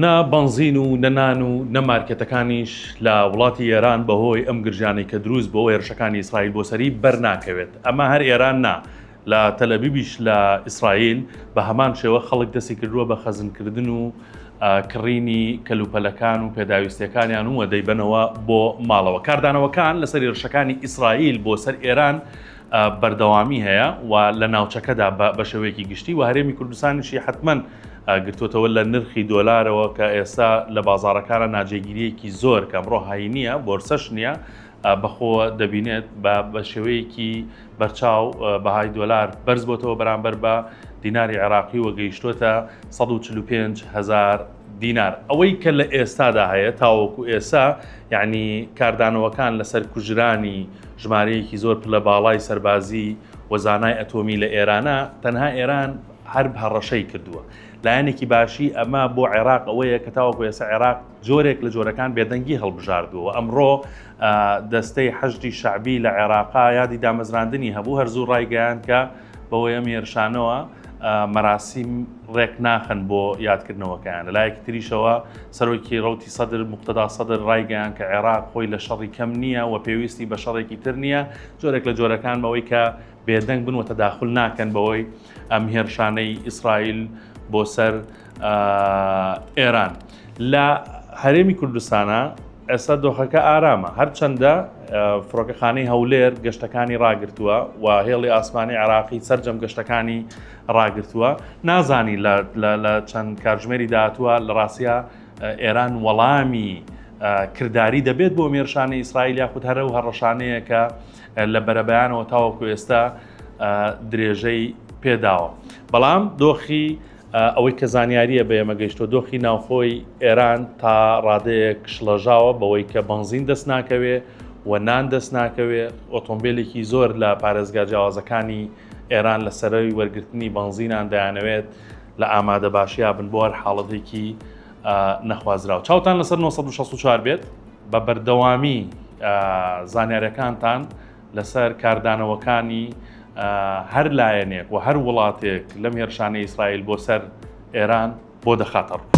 نە بەنزین و نە نان و نە مارکێتەکانیش لە وڵاتی ئێران بەهۆی ئەم گرژانەی کە دروست بۆوە هێرشەکانی ئیسرائیل بۆ سەری بەر ناکەوێت ئەمە هەر ئێران نا لە تەلەبیبیش لە ئیسرائیل بە هەمان شێوە خەڵک دەستی کردووە بە خەزنکردن و کڕینی کەلوپەلەکان و پێداویستیەکانیان و دەیبەنەوە بۆ ماڵەوە کاردانەوەکان لەسەر هێرشەکانی ئیسرائیل بۆ سەر ئێران بەردەوامی هەیە و لە ناوچەکەدا بە شێوەیەکی گشتی و هەرێمی کوردستانیشی حتمەن گرتوتەوە لە نرخی دۆلارەوە کە ئێستا لە بازارەکانە ناجێگیریەکی زۆر کە ئەمڕۆ هایی نییە بۆرسەش نییە بەخۆ دەبینێت بە شێوەیەکی بەرچاو بەهای دۆلار بەرز بۆتەوە بەرامبەر بە دیناری عێراقی و گەیشتوتە 145 هزار دینار ئەوەی کە لە ئێستادا هەیە تاوەکو ئێسا یعنی کاردانەوەکان لەسەر کوژرانی ژمارەیەکی زۆر پلە باڵای سەربازی و زانای ئەتۆمی لە ئێرانە، تەنها ئێران هەر هەڕەشەی کردووە. لایەنێکی باشی ئەمە بۆ عێراق ئەوەیە کە تاوەکو ئێستا عێراق جۆرێک لە جۆرەکان بێدەنگی هەڵبژاردووە و ئەمڕۆ دەستەی حەشدی شەعبی لە عێراقا یادی دامەزراندنی هەبوو، هەر زوو ڕایگەیاند کە، بەوەی ئەم هێرشانەوە مەراسیم ڕێک ناخن بۆ یادکردنەوەکەیان لەلایەکی تریشەوە سەرۆکی ڕوتی سەدر مختدا سەدر ڕایگەیان کە عێراق خۆی لە شەڕی کەم نییە و پێویستی بە شەڕێکی تر نییە جۆرێک لە جۆرەکان بەوەی کە بێدەنگ بن و تەداخل ناکەن بەوەی ئەم هێرشانەی ئیسرائیل بۆ سەر ئێران لە هەرێمی کوردستانە ئێستا دۆخەکە ئارامە هەرچەندە فڕۆکەخانەی هەولێر گەشتەکانی ڕاگرتووە و هێڵی ئاسمانی عراقی سرجەم گەشتەکانی ڕاگرتووە نازانی لە چەند کارژمێری داهاتووە لە ڕاستە ئێران وەڵامی کردداری دەبێت بۆ مێرشانە ئیسرائیل یاخود هەرە و هەڕەشانەیە کە لە بەرەبەیانەوە تاوەکو ئێستا درێژەی پێداوە بەڵام دۆخی ئەوەی کە زانیارییە بە ئێمە گەیشتووە، دۆخی ناوخۆی ئێران تا ڕادەیەک شڵەژاوە بەوەی کە بەنزین دەست ناکەوێ و نان دەست ناکەوێ، ئۆتۆمبێلێکی زۆر لە پارێزگا جیاوازەکانی ئێران لە سەرەوی وەرگرتنی بەنزینان دەیانەوێت لە ئامادەباشیا بن بۆ هەر حاڵەتێکی نەخوازراو. چاوتان لەسەر نۆ سەد و شەست و چوار بێت، بە بەردەوامی زانیاریەکانتان لەسەر کاردانەوەکانی هەر لایەنێک و هەر وڵاتێک لەم هێرشانە ئیسرائیل بۆ سەر ئێران بۆ دەخاتە ڕوو.